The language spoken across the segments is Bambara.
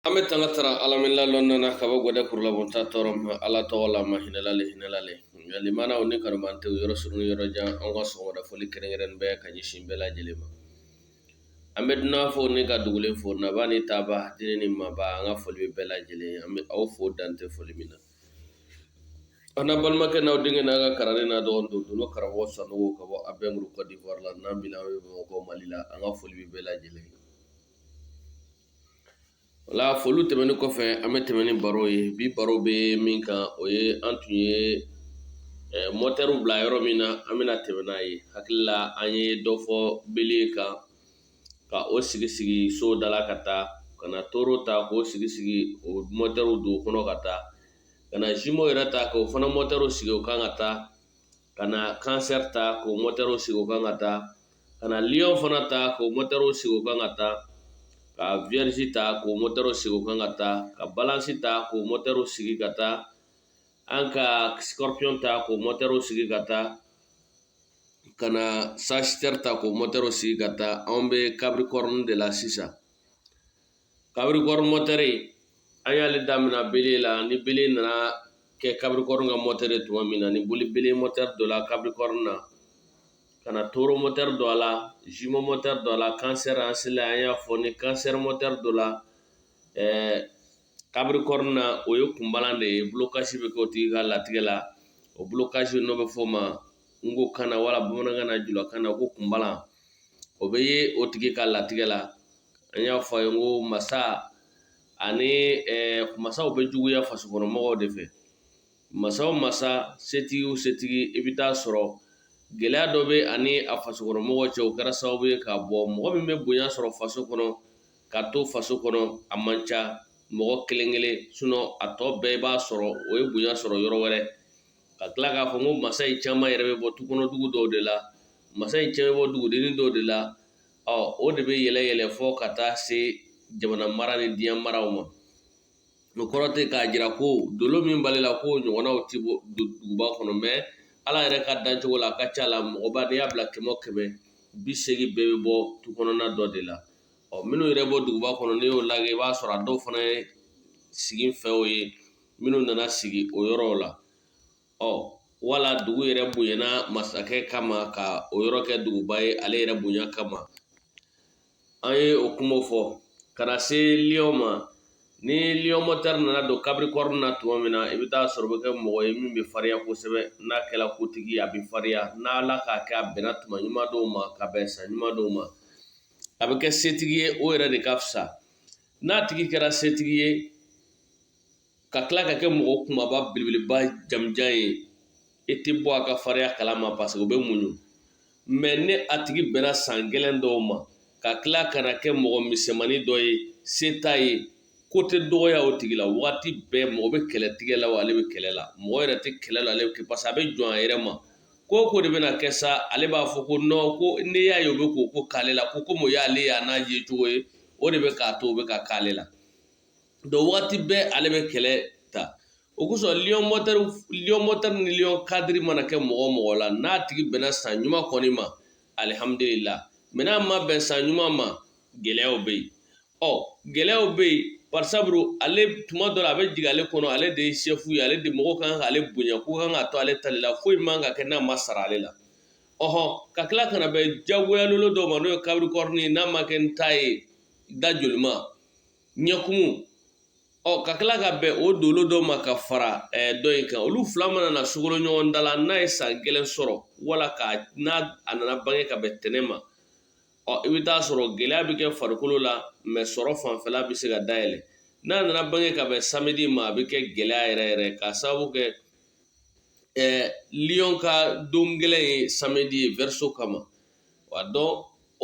an bɛ tanga tara ala mɛnna lɔnna na ka bɔ gɛdɛ kurulabonta tɔɔrɔ ma ala tɔgɔ la mahinɛla le hinɛla le lamɛnnaw ni kanubaantew yɔrɔ surun yɔrɔ jan an ka sɔgɔmada fɔli kɛrɛnkɛrɛnnen bɛ ka ɲɛsin bɛɛ lajɛlen ma an bɛ dunan fo ni ka dugulen fo naba ni taaba dennin ni maba an ka foli bɛ bɛɛ lajɛlen an bɛ aw fo dante foli min na a n'a balimakɛ n'aw denkɛ n'a ka kalanden n'a dɔgɔnin don dolo karamɔgɔ sanogo ka bɔ abɛnguru kɔdiwari la n'an bila an bɛ bamakɔ mali la an ka foli bɛ bɛɛ lajɛlen wala foli tɛmɛnen kɔfɛ an bɛ tɛmɛn ni baro ye bi baro bɛ min kan o ye an tun ye mɔtɛriw bila yɔrɔ min na an bɛna tɛmɛn n'a ye hakili la an ye dɔ fɔ bele kan ka o sigi sigi so da la ka taa ka na toro ta k'o sigi sigi o mɔtɛriw don o kɔnɔ ka taa ka na zimo yɛrɛ ta k'o fana mɔtɛriw sigi o kan ka taa ka na kansɛri ta k'o mɔtɛriw sigi o kan ka taa ka na liyɔn fana ta k'o mɔtɛriw sigi o kan ka taa ka viyɛrizi ta k'o mɔtɛriw sigi o kan ka taa ka balansi ta k'o mɔtɛriw sigi ka taa an ka sikɔrɔpiyɔn ta k'o mɔtɛriw sigi ka taa ka na sazitɛri ta k'o mɔtɛriw sigi ka taa anw bɛ kapirikɔrɔni de la sisan kapirikɔrɔni mɔtɛri an y'ale daminɛ bele la ni bele nana kɛ kapirikɔrɔni ka mɔtɛri tuma min na ni boli bele mɔtɛri donna kapirikɔrɔni na ka na toro mɔtɛri don a la zimo mɔtɛri don a la kansɛri an sela an y'a fɔ ni kansɛri mɔtɛri donna ɛɛ kapirikɔrɔni na o ye kunbalan de ye bulokasi bɛ kɛ o tigi ka latigɛ la o bulokasi n'o bɛ fɔ o ma nkokan na wala bamanankan na julakan na ko kunbalan o bɛ ye o tigi ka latigɛ la an y'a fɔ a ye n ko masa ani masaw bɛ juguya fasokɔnɔmɔgɔw de fɛ masa o masa setigi o setigi i bɛ t'a sɔrɔ gɛlɛya dɔ b'a ni a fasokɔnɔmɔgɔw cɛ o kɛra sababu ye k'a bɔ mɔgɔ min bɛ bonya sɔrɔ faso kɔnɔ ka to faso kɔnɔ a man ca mɔgɔ kelen-kelen sinɔn a tɔ bɛɛ i b'a sɔrɔ o ye bonya sɔrɔ yɔrɔ wɛrɛ ka tila k'a fɔ ko masa in caman yɛrɛ bɛ bɔ tukɔnɔdugu dɔw de la masa in caman bɛ bɔ dugudennin dɔw de la ɔ o de bɛ yɛlɛ yɛlɛ fɔ ka taa se jamana mara ni diɲɛ maraw ma o kɔrɔ tɛ k'a jira ko dolo min b'ale la ko ɲɔgɔnnaw tɛ bɔ duguba kɔnɔ mɛ ala yɛrɛ ka dancogo la a ka ca la mɔgɔba n'i y'a bila kɛmɛ o kɛmɛ bi seegin bɛɛ bɛ bɔ tu kɔnɔna dɔ de la ɔ minnu yɛrɛ bɔ duguba kɔnɔ n'i y'o lajɛ i b'a sɔrɔ a dɔw fana ye siginfɛw ye minnu nana sigi o yɔrɔw la ɔ wala dugu yɛrɛ bonyana masakɛ kama ka o yɔrɔ kɛ duguba ye ale yɛrɛ bonya kama an ye o kuma fɔ ka na se lion ma ni lion moteur nana don capricorne na tuma min na i bɛ taa sɔrɔ o bɛ kɛ mɔgɔ ye min bɛ farinya kosɛbɛ n'a kɛra kotigi a bɛ farinya n'ala k'a kɛ a bɛnna tuma ɲuman dɔw ma ka bɛn san ɲuman dɔw ma a bɛ kɛ setigi ye o yɛrɛ de ka fisa n'a tigi kɛra setigi ye ka tila ka kɛ mɔgɔ kunbaba belebeleba jamujan ye e tɛ bɔ a ka farinya kala ma parce que o bɛ muɲu mɛ ni a tigi bɛnna san gɛlɛn dɔw ma ka tila ka na kɛ mɔgɔ misɛnmani dɔ ye se t'a ye ko tɛ dɔgɔya o tigi la waati bɛɛ mɔgɔ bɛ kɛlɛ tigɛ la ale bɛ kɛlɛ la mɔgɔ yɛrɛ tɛ kɛlɛ la ale bɛ kɛ parce que a bɛ jɔn a yɛrɛ ma ko ko de bɛna kɛ sa ale b'a fɔ ko non ko ne y'a ye o bɛ ko ko k'ale la ko komi o y'ale y'a n'a ye cogo ye o de bɛ k'a to o bɛ ka k'ale la donc waati bɛɛ ale bɛ kɛlɛ ta o kosɔn lion moteur ni lion cadre mana kɛ mɔgɔ mɔgɔ la n'a tigi bɛnna san ɲuman kɔni ma alihamudulila mɛ n'a ma bɛn san ɲuman ma gɛlɛyaw bɛ yen ɔ gɛlɛyaw bɛ yen parisabu ale tuma dɔ la a bɛ jigin ale kɔnɔ ale de ye chef ye ale de mɔgɔ kan k'ale bonya ko kan ka to ale tali la foyi man ka kɛ n'a ma sara ale la ɔhɔ ka tila ka na bɛn jagoyalolo dɔ ma n'o ye capricorne ye n'a ma kɛ n ta ye da jolima ɲɛkumu ɔ ka tila ka bɛn o dolo dɔ ma ka fara ɛɛ dɔ in kan olu fila mana na sogolo ɲɔgɔn da la n'a ye san gɛlɛn sɔrɔ wala ka n'a nana bange ka bɛn tɛnɛn ma ɔ i bɛ taa sɔrɔ gɛlɛya bɛ kɛ farikolo la mɛ sɔrɔ fanfɛla bɛ se ka dayɛlɛ n'a nana bange ka bɛn samedi ma a bɛ kɛ gɛlɛya yɛrɛ yɛrɛ ka sababu kɛ Ɛɛ lion ka don gɛlɛn ye samedi ye verseau kama wa donc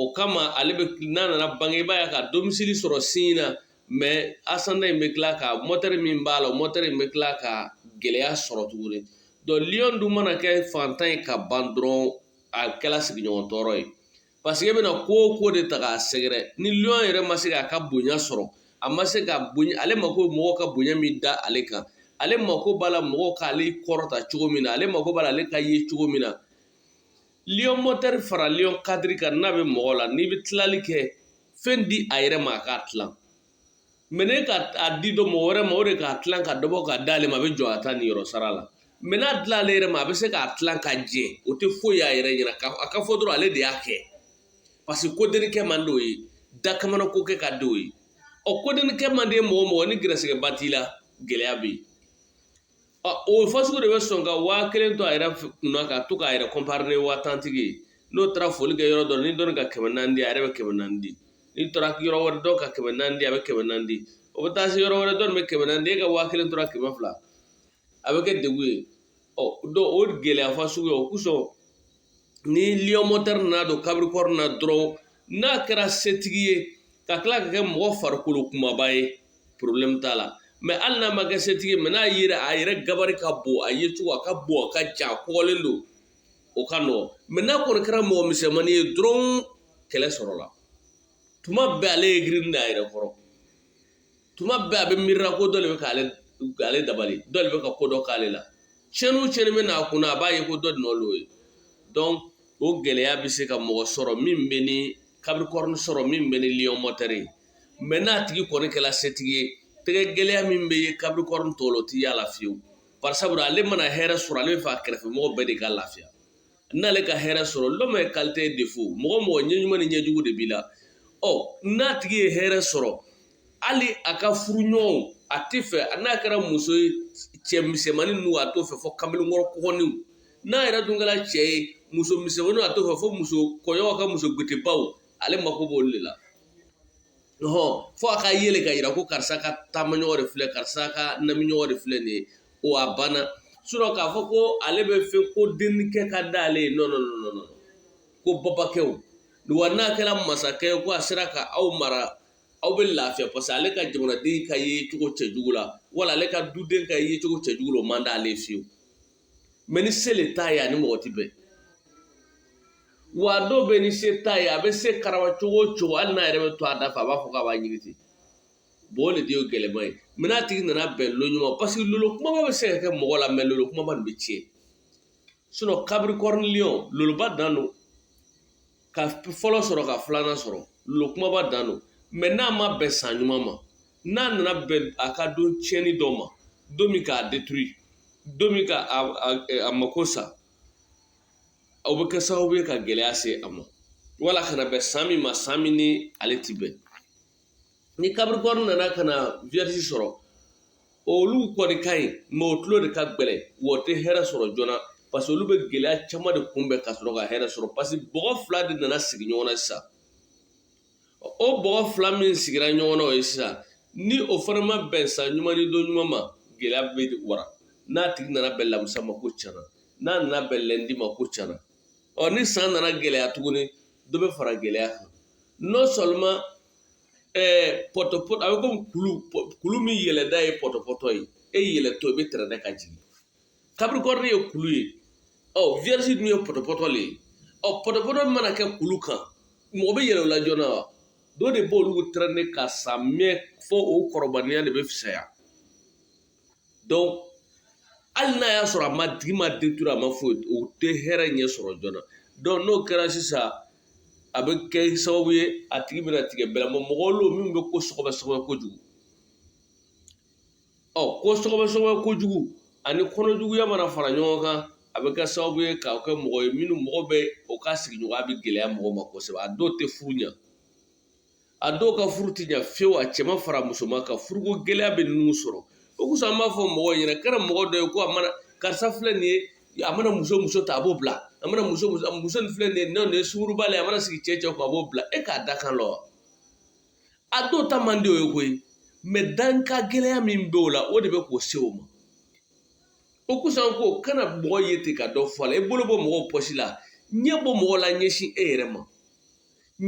o kama ale bɛ n'a nana bange i b'a ye ka domicile sɔrɔ signe na mɛ ascendant in bɛ tila ka moteur min b'a la moteur in bɛ tila ka gɛlɛya sɔrɔ tuguni donc lion dun mana kɛ fantan ye ka ban dɔrɔn a kɛla sigiɲɔgɔn tɔɔrɔ ye parce que e bɛna ko o ko de ta k'a sɛgɛrɛ ni lion yɛrɛ ma se k'a ka bonya sɔrɔ a ma se ka bonya ale mako mɔgɔ ka bonya min da ale kan ale mako b'a la mɔgɔw k'ale kɔrɔta cogo min na ale mako b'a la ale ka ye cogo min na lion moteur fara lion cadre kan n'a bɛ mɔgɔ la n'i bɛ tilali kɛ fɛn di a yɛrɛ ma a k'a tilan mɛ n'e ka a di dɔ mɔgɔ wɛrɛ ma o de k'a tilan ka dɔ bɔ ka d'ale ma a bɛ jɔn a ta niyɔrɔ sara la mɛ n'a dila ale yɛrɛ ma a bɛ se k'a tilan ka jɛ o tɛ foyi y'a yɛrɛ ɲɛna ka a ka fɔ dɔrɔn ale de y'a kɛ parce que kodennin kɛ man d'o ye dakamana ko kɛ ka d'o ye ɔ kodennin kɛ man di mɔgɔ mɔgɔ ni gɛrɛsɛgɛba t'i la gɛlɛya bɛ yen ɔ o fasugu de bɛ sɔn ka waa kelen to a yɛrɛ f- kunna ka to k'a yɛrɛ kɔnpari ni waa tantigi ye n'o taara foli kɛ yɔrɔ dɔ la, ni dɔ ka kɛmɛ naani di a yɛrɛ bɛ kɛmɛ naani di ni taara yɔrɔ wɛrɛ dɔ ka kɛmɛ naani di a bɛ kɛmɛ naani di o bɛ taa se yɔrɔ wɛrɛ dɔ bɛ kɛmɛ naani di e ka waa kelen tora kɛmɛ fila a bɛ kɛ degun ye ɔ donc o gɛlɛya fasugu ye o kosɔn ni lion moteur nana don capricorne na dɔrɔn n'a kɛra setigi ye ka tila ka kɛ mɔgɔ farikolo kumaba ye porobilɛmu t'a la mais hali n'a ma kɛ setigi ye mais n'a yɛrɛ a yɛrɛ gabari ka bon a yecogo a ka bon a ka jan a kɔgɔlen don o ka nɔgɔn mais n'a kɔni kɛra mɔgɔ misɛnmanin ye dɔrɔn kɛlɛ sɔrɔla tuma bɛɛ ale aigrinen a yɛrɛ kɔrɔ tuma bɛɛ a bɛ miirira ko dɔ le bɛ ka ale dabali dɔ le bɛ ka ko dɔ k'ale la cɛnni cɛnni bɛ n'a kunna a b'a ye ko dɔ nɔ lo ye donc o gɛlɛya bɛ se ka mɔgɔ sɔrɔ min bɛ ni capricorne sɔrɔ min bɛ ni lion moteur ye mais n'a tigi kɔni kɛla setigi ye tɛgɛ gɛlɛya min bɛ ye capricorne tɔw la o tɛ y'a la fiyewu par sabu ale mana hɛrɛ sɔrɔ ale bɛ fɛ a kɛrɛfɛmɔgɔ bɛɛ de ka lafiya n'ale ka hɛrɛ sɔrɔ l'homme est qualité défaut mɔgɔ mɔgɔ ɲɛ ɲuman ni ɲɛjugu de b'i la ɔ n'a tigi ye hɛrɛ sɔrɔ hali a ka furuɲɔgɔnw a tɛ fɛ n'a kɛra muso ye cɛ misɛnmanin ninnu a t'o fɛ fo kamalenkɔrɔ kɔgɔninw n'a yɛrɛ dun kɛra cɛ ye muso misɛnmaninw a t'o fɛ fo muso kɔɲɔw ka muso gutebaw ale mako b'olu de la hɔn fo a ka yɛlɛ ka yira ko karisa ka taamaɲɔgɔn de filɛ karisa ka namiɲɔgɔn de filɛ nin ye o a banna sɔrɔ k'a fɔ ko ale bɛ fɛ ko dennikɛ ka da ale ye non non ko babakɛ wa n'a kɛra masakɛ ko a sera ka aw mara aw bɛ lafiya parce que ale ka jamanaden ka ye cogo cɛjugu la wala ale ka duden ka ye cogo cɛjugu o man di ale fiyewu mais ni se le t'a ye ani mɔgɔ ti bɛn wa dɔw bɛ ni se t'a ye a bɛ se karaba cogo o cogo hali n'a yɛrɛ bɛ to a da fɛ a b'a fɔ k'a b'a ɲini ten Bon o de ye gɛlɛman ye mais n'a tigi nana bɛn don ɲuman parce que lolo kumaba bɛ se ka kɛ mɔgɔ la mais lolo kumaba nin bɛ tiɲɛ sinon capricorne lion loloba dan don ka fɔlɔ sɔrɔ ka filanan sɔrɔ lolo kumaba dan don mais n'a ma bɛn san ɲuman ma n'a nana bɛn a ka don tiɲɛni dɔ ma don min k'a détruire don min k'a mako sa aw bɛ kɛ sababu ye ka gɛlɛya se a ma wala ka na bɛn san min ma san min n'ale tɛ bɛn ni capricorne nana ka na vierge sɔrɔ olu kɔni ka ɲi mais o tulo de ka gɛlɛn wa o tɛ hɛrɛ sɔrɔ joona parce que olu bɛ gɛlɛya caman de kunbɛn ka sɔrɔ ka hɛrɛ sɔrɔ parce que bɔgɔ fila de nana sigi ɲɔgɔn na sisan o bɔgɔ fila min sigira ɲɔgɔn na o ye sisan ni o fana ma bɛn san ɲuman ni don ɲuman ma gɛlɛya bɛ wara n'a tigi nana bɛn lamusa ma ko tiɲɛna n'a nana bɛn lundi ma ko tiɲɛna ɔ ni san nana gɛlɛya tuguni dɔ bɛ fara gɛlɛya kan non seulement ɛɛ pɔtɔpɔ a bɛ komi kulu pɔ- kulu min yɛlɛda ye pɔtɔpɔtɔ ye e yɛlɛtɔ i bɛ tɛrɛnɛ ka jigin capricorne ye kulu ye ɔ vierge dun ye pɔtɔpɔtɔ le ye ɔ pɔtɔpɔtɔ mana kɛ kulu kan mɔgɔ bɛ yɛlɛ o la joona wa dɔ de b'olu tɛrɛnɛ ka sa mɛ fo o kɔrɔbaliya de bɛ fisaya hali n'a y'a sɔrɔ a ma tigi ma détruire a ma foyi o tɛ hɛrɛ ɲɛ sɔrɔ joona n'o kɛra sisan a bɛ kɛ sababu ye a tigi bɛna tigɛ bɛɛ la mɔgɔ lo min bɛ ko sɔgɔbɛ sɔgɔbɛ kojugu ɔ ko sɔgɔbɛ sɔgɔbɛ kojugu ani kɔnɔjuguya mana fara ɲɔgɔn kan a bɛ kɛ sababu ye k'a kɛ mɔgɔ ye minnu mɔgɔ bɛ o ka sigiɲɔgɔnya bɛ gɛlɛya mɔgɔ ma kosɛbɛ a dɔw tɛ furu ɲɛ a dɔw ka furu ti ɲɛ fiyewu a cɛman fara musoman kan furuko gɛlɛya bɛ ninnu sɔrɔ o kosɔn an b'a fɔ mɔgɔw ɲɛna kana mɔgɔ dɔ ye ko a mana karisa filɛ nin ye a mana muso muso ta a b'o bila a mana muso muso muso nin filɛ nin ye n'o ye sunguruba ye a mana sigi cɛ cɛ kun a b'o bila e k'a dakan lɔn wa a dɔw ta man di o ye koyi mɛ danka gɛlɛya min bɛ o la o de bɛ k'o se o ma o kosɔn ko kana mɔgɔ ye ten ka dɔ fɔ a la i bolo bɔ mɔgɔw pɔsi la ɲɛ bɔ mɔgɔ la ɲɛsin e yɛrɛ ma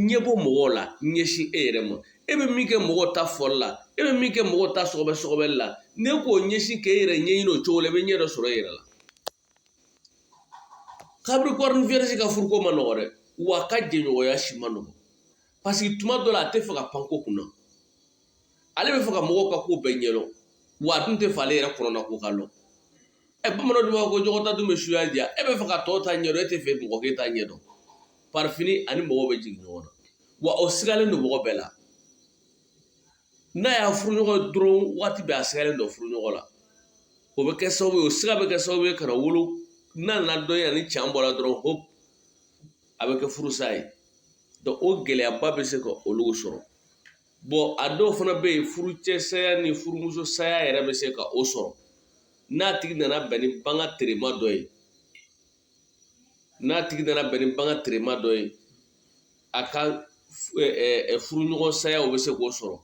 ɲɛ bɔ mɔgɔw la ɲɛsin e yɛrɛ ma e bɛ min kɛ mɔgɔw ta fɔli la e bɛ min kɛ mɔgɔw ta sɔgɔbɛ sɔgɔbɛli la n'e k'o ɲɛsin k'e yɛrɛ ɲɛɲini o cogo la i bɛ ɲɛ dɔ sɔrɔ e yɛrɛ la capricorne vierge ka furuko ma nɔgɔ dɛ wa a ka jɛɲɔgɔnya si ma nɔgɔ parce que tuma dɔ la a tɛ fɛ ka pan ko kunna ale bɛ fɛ ka mɔgɔw ka ko bɛɛ ɲɛdɔn wa a dun tɛ fɛ ale yɛrɛ kɔnɔna ko ka dɔn Ɛ bamanan dun b'a fɔ ko ɲɔgɔn ta dun bɛ suya diya e bɛ fɛ ka tɔw ta ɲɛdɔn e tɛ fɛ mɔgɔ k'e ta ɲɛdɔn par fini ani mɔgɔw bɛ jigin ɲɔgɔn na wa o sigalen don mɔgɔ bɛɛ la n'a y'a furuɲɔgɔn dɔrɔn waati bɛɛ a sigalen don furuɲɔgɔn la o bɛ kɛ sababu ye o siga bɛ kɛ sababu ye ka na wolo n'a nana dɔn ani can bɔra dɔrɔn hop a bɛ kɛ furusa ye donc o gɛlɛyaba bɛ se ka olu sɔrɔ bon a dɔw fana bɛ yen furucɛ saya ni furumuso saya yɛrɛ bɛ se ka o sɔrɔ n'a tigi nana bɛn ni banga terema dɔ ye n'a tigi nana bɛn ni banga terema dɔ ye a ka furuɲɔgɔn saya o bɛ se k'o sɔrɔ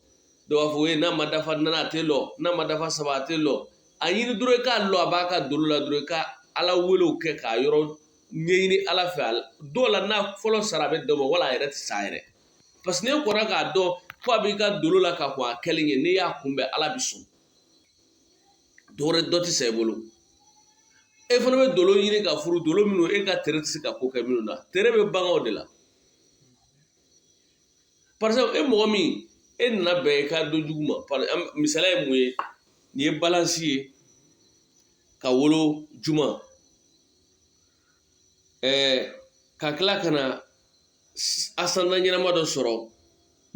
dɔw b'a fɔ ye n'a ma dafa naani a tɛ lɔ n'a ma dafa saba a tɛ lɔ a ɲini dɔrɔn i k'a lɔn a b'a ka dolo la dɔrɔn i ka ala welew kɛ k'a yɔrɔ ɲɛɲini ala fɛ dɔw la n'a fɔlɔ sara a bɛ dan o ma wala a yɛrɛ tɛ sa yɛrɛ parce que n'e kɔnna k'a dɔn ko a b'i ka dolo la ka kɔn a kɛli ɲɛ n'i y'a kunbɛn ala bɛ sɔn dɔwɛrɛ dɔ tɛ sa i bolo e fana bɛ dolo ɲini ka furu dolo minnu e ka tere tɛ se ka ko kɛ minnu na tere bɛ baganw de la par exemple e mɔgɔ min e nana bɛn i ka don jugu ma misaliya ye mun ye n'i ye balance ye ka wolo juma ɛɛ ka tila ka na asandan ɲɛnama dɔ sɔrɔ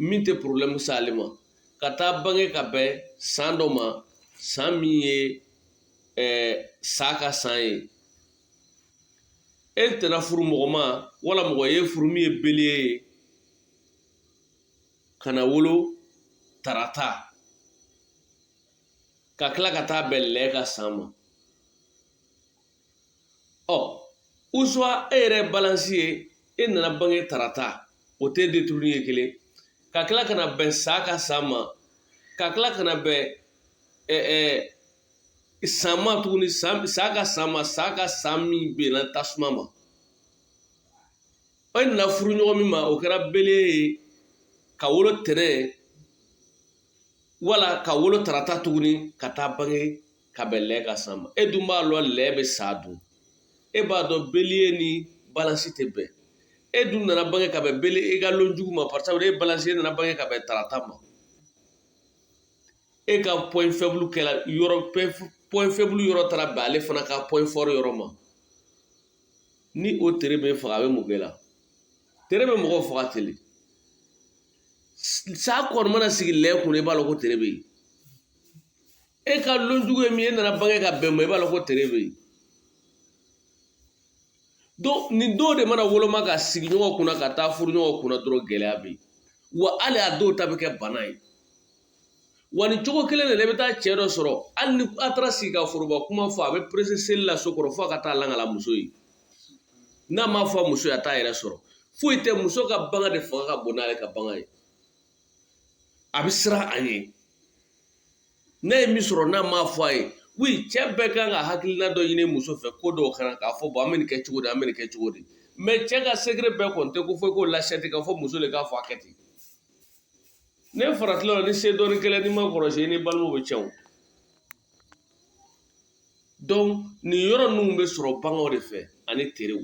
min tɛ porobilɛmu se ale ma ka taa bange ka bɛn san dɔ ma san min ye ɛɛ sa ka san ye e tɛna furu mɔgɔ ma wala mɔgɔ ye furu min ye beliye ye ka na wolo tarata ka tila ka taa bɛn lɛ ka san ma ɔ usuwa e yɛrɛ balansi ye e nana bange tarata o tɛ deturuni ye kelen ka tila ka na bɛn sa ka san ma ka tila ka na bɛn ɛ ɛ san ma tuguni san sa ka san ma sa ka san min bɛnna tasuma ma e nana furu ɲɔgɔn min ma o kɛra beliye ye ka wolo tɛnɛn wala ka wolo tarata tuguni ka taa bange ka bɛn lɛ ka san ma e dun b'a lɔn lɛ bɛ sa dun e b'a dɔn beliye ni balansi tɛ bɛn e dun nana bange ka bɛn beliye e ka lon jugu ma parce que e balansi e nana bange ka bɛn tarata ma e ka point faible kɛra point faible yɔrɔ taara bɛn ale fana ka point fort yɔrɔ ma ni o tere bɛ faga a bɛ mun kɛ la tere bɛ mɔgɔw faga teli sa kɔni mana sigi lɛ kunna i b'a dɔn ko tere bɛ yen e ka lon jugu ye min ye e nana bange ka bɛn ma i b'a dɔn ko tere bɛ yen donc nin dɔw de mana woloma ka sigi ɲɔgɔn kunna ka taa furu ɲɔgɔn kunna dɔrɔn gɛlɛya bɛ yen wa hali a dɔw ta bɛ kɛ bana ye wa nin cogo kelen de la i bɛ taa cɛ dɔ sɔrɔ hali ni a taara sigi ka foroba kuma fɔ a bɛ perese seli la so kɔrɔ fo a ka taa lakali muso ye n'a m'a fɔ muso ye a t'a yɛrɛ sɔrɔ foyi tɛ muso ka bagan de fanga ka bon n'ale ka bagan ye a bɛ siran a ɲɛ n'a ye min sɔrɔ n'a m'a fɔ a ye wi cɛ bɛɛ kan ka hakilina dɔ ɲini muso fɛ ko dɔw kan na k'a fɔ bɔn an bɛ nin kɛ cogo di an bɛ nin kɛ cogo di mɛ cɛ ka sekere bɛɛ kɔni tɛ ko fo i k'o lasɛti ka fɔ muso de k'a fɔ a kɛ ten ne faratila la ni se dɔɔni kɛlɛ n'i m'a kɔlɔsi i ni balimaw bɛ cɛn donc nin yɔrɔ ninnu bɛ sɔrɔ baganw de fɛ ani terew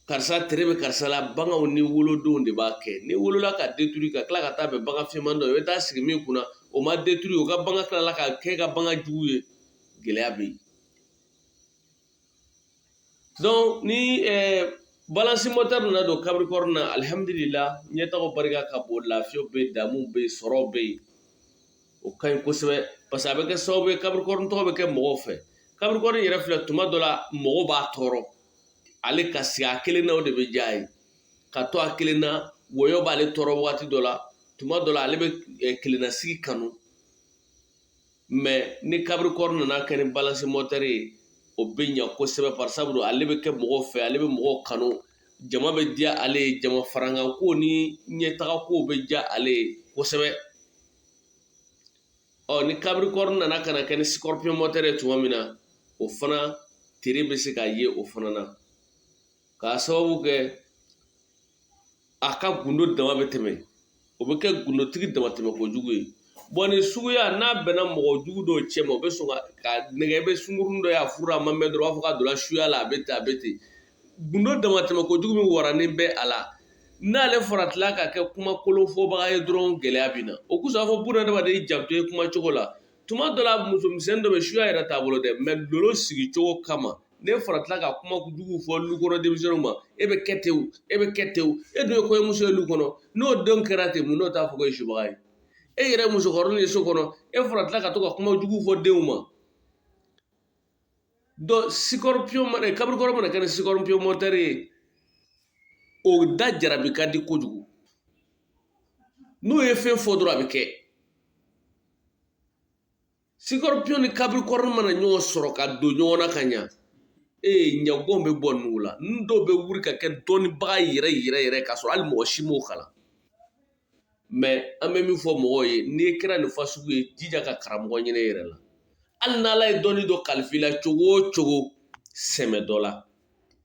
karisa tere bɛ karisa la baganw ni wolodonw de b'a kɛ n'i wolola ka deturu ka tila ka taa bɛn bagan fiman dɔ i bɛ taa sigi min kunna o ma deturu o ka bagan tilala ka kɛ ka bagan jugu ye gɛlɛya bɛ yen donc ni eh, balansi mɔtɛri nana don capricorne na alihamudulila ɲɛtaga barika ka bon lafiyaw bɛ yen damuw bɛ yen sɔrɔw bɛ yen o ka ɲi kosɛbɛ parce que a bɛ kɛ sababu ye capricorne tɔgɔ bɛ kɛ mɔgɔw fɛ capricorne yɛrɛ filɛ tuma dɔ la mɔgɔw b'a tɔɔrɔ ale ka sigi a kelen na o de bɛ diya a ye ka to a kelen na wɔyɔ b'ale tɔɔrɔ wagati dɔ la tuma dɔ la ale bɛ kelennasigi kanu mɛ ni kabirikɔrɔ nana kɛ ni balansi mɔtɛri ye o bɛ ɲa kosɛbɛ barisabu don ale bɛ kɛ mɔgɔw fɛ ale bɛ mɔgɔw kanu jama bɛ diya ale ye jama farankanko ni ɲɛtagakow bɛ diya ale ye kosɛbɛ ɔ ni kabirikɔrɔ nana ka na kɛ ni sikɔrɔpiyon mɔtɛri ye tuma min na o fana tere bɛ se ka ye o fana na k'a sababu kɛ a ka gundo dama bɛ tɛmɛ o bɛ kɛ gundotigi damatɛmɛ kojugu ye bɔn nin suguya n'a bɛnna mɔgɔ jugu dɔw cɛ ma o bɛ sɔn ka nɛgɛ bɛ sungurunnin dɔ y'a furu a ma mɛn dɔrɔn u b'a fɔ k'a donna suya la a bɛ ten a bɛ ten gundo damatɛmɛ ko jugu min waranen bɛ a la n'ale faratila ka kɛ kuma kolonfɔbaga ye dɔrɔn gɛlɛya bɛ na o kosɔn fɔ buna adamaden janto ye kuma cogo la tuma dɔ la musomisɛnnin dɔ bɛ suya yɛrɛ t'a bolo dɛ mɛ lolo sigicogo kama n'e faratila ka kuma jugu fɔ lu kɔnɔ denmisɛnninw ma e bɛ kɛ ten e bɛ kɛ ten e dun ye kɔɲɔmuso ye lu kɔnɔ n'o denw kɛra ten mun n'o t'a fɔ k'e ye subaga ye e yɛrɛ musokɔrɔnin ye so kɔnɔ e faratila ka to ka kuma jugu fɔ denw ma sikɔrɔpiyon mana kabirikɔrɔ mana kɛ ni sikɔrɔpiyon mɔtɛri ye o da jarabi ka di kojugu n'o ye fɛn fɔ dɔrɔn a bɛ kɛ sikɔrɔpiyon ni kabirikɔrɔ mana ɲɔgɔn sɔrɔ ka don ɲɔgɔn na ka ɲa ee ɲɛgɔn bɛ bɔ ninnu la n dɔw bɛ wuli ka kɛ dɔnnibaga yɛrɛ yɛrɛ yɛrɛ k'a sɔrɔ hali mɔgɔ si m'o kalan mɛ an bɛ min fɔ mɔgɔw ye n'i kɛra nin fasugu ye jija ka karamɔgɔ ɲini yɛrɛ la hali n'ala ye dɔnni dɔ kalifa i la cogo o cogo sɛmɛ dɔ la